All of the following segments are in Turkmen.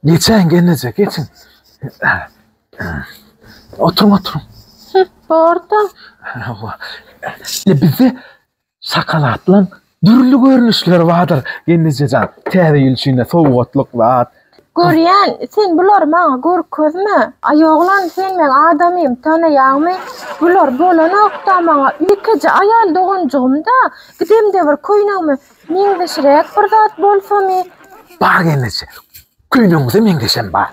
Geçen gelnece geçin. Oturun oturun. Orta. Bizde şakalatlan dürli görnüşler vardır gelnece can. Täze ýyl üçin sowgatlyk zat. Görýän, sen bulary maňa görkezme. Aý oglan, sen meň adamym, tanaýaňmy? Bular bolanok-da maňa. Ýekeje aýal doganjygym-da. Gidemde bir köýnegimi Meňzeşräk bir zat bolsamy? Bar gelneje. Köýnegiňize meňzeşem bar.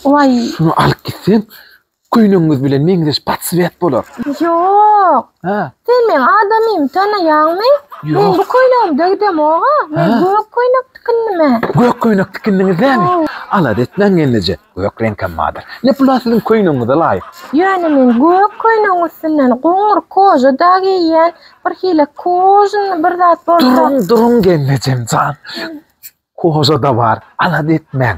Waý. Şuny alyp gitseň, köýnegiňiz bilen meňzeş patswet bolar. Ýok. Hä? Sen meň adamymy tanaýaňmy? Ýok. Men bu köýnegimi dögdemog-a. Men gök köýnek tikindim-ä. Gök köýnek tikindiňiz-dämi? Hawa. Alada etmäň gelneje, gök reňkem bardyr. Ne pula siziň köýnegiňize laýyk. Ýöne men gök köýnegiň üstünden goňur koža-da geýýän. Bir hile kuzn bir zat bolsa. Duruň, duruň gelnejem jan. Koza da bar. Alada etmäň.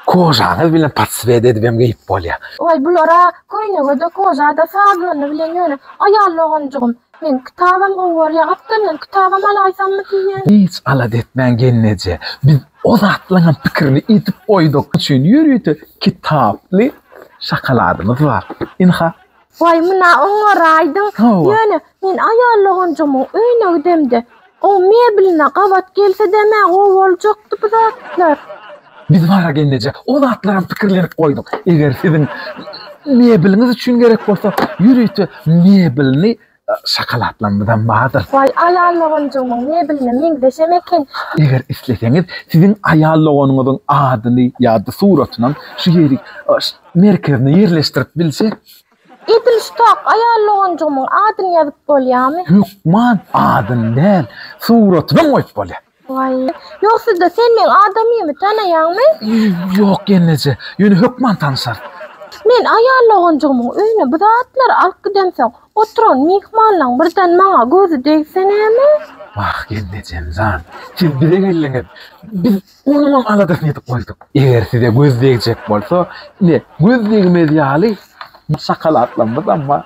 Kozaňyz bilen patsvet edibem geýip bolýa. Oý bulara köýnege-de, koza-da, sazlany bilen ýöne aýal doganjygym. Men kitabam gowy görýä. Atda men kitabam alaýsammy diýýän. Hiç alada etmäň gelneje. Biz o zatlaňam pikirini edip goýduk. Üçin ýörite kitaply şokoladymyz bar. Ynha, Waý, muna oňary aýdyň. Ýöne, men aýal loganjygymyň öýüne gidemde, oň mebeline gabat gelsede-m-ä gowy boljakdy bu zatlar. Biz bara gelneje o zatlaram pikirlenip goýduk. Eger siziň mebeliňiz üçin gerek bolsa, ýörite mebelini Şokoladlarymyzam bardyr. Waý, aýal doganjygymyň mebeline meňzeşem eken. Eger isleseňiz, siziň aýal doganyňyzyň adyny ýa-da suratynam şu ýeri merkezine ýerleşdirip biljek. Edil şu tok aýal doganjygymyň adyny ýazyp bolýamy? Hökman, adyny däl, suratyny hem goýup bolýar. Waý, ýok sizde sen meň adamymy tanaýaňmy? Ýok gelneje, ýöne hökman tanyşar. Men aýal doganjygymyň öýüne bu zatlary alyp gidemsoň, oturan myhmanlaň birden maňa gözi degse näme? Wah gelnejemjan, siz bize geldiňiz, biz onuňam aladasyny edip goýduk. Eger size göz degjek bolsa, ine göz degmez ýaly bu şakalaklarymyz amma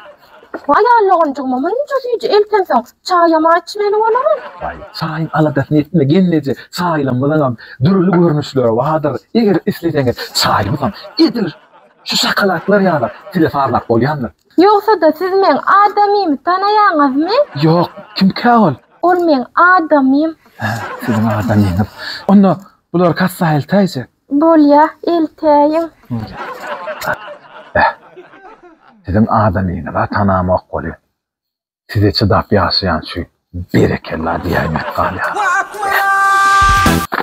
Aýallygynjygyma munça süýji eltensoň, çaýam-a içmeli bolaryn. Waý, çaýyň aladasyny etme, gelneje, çaýlarymyzyňam dürli görnüşleri bardyr. Eger isleseňiz, çaýymyzam edil şu şokoladlar ýaly size sazlap bolýandyr. Ýogsa-da, siz meň adamymy tanaýaňyzmy? Ýok, kimkä ol? Ol meň adamym. Hä, siziň adamyňyz. Onda bulary kassa eltäýjek. Bolýa, eltäýiň. Beh. Siziň adamyňyza tanamok welin, size çydap ýaşaýan şu berekella diýäýmek galýar.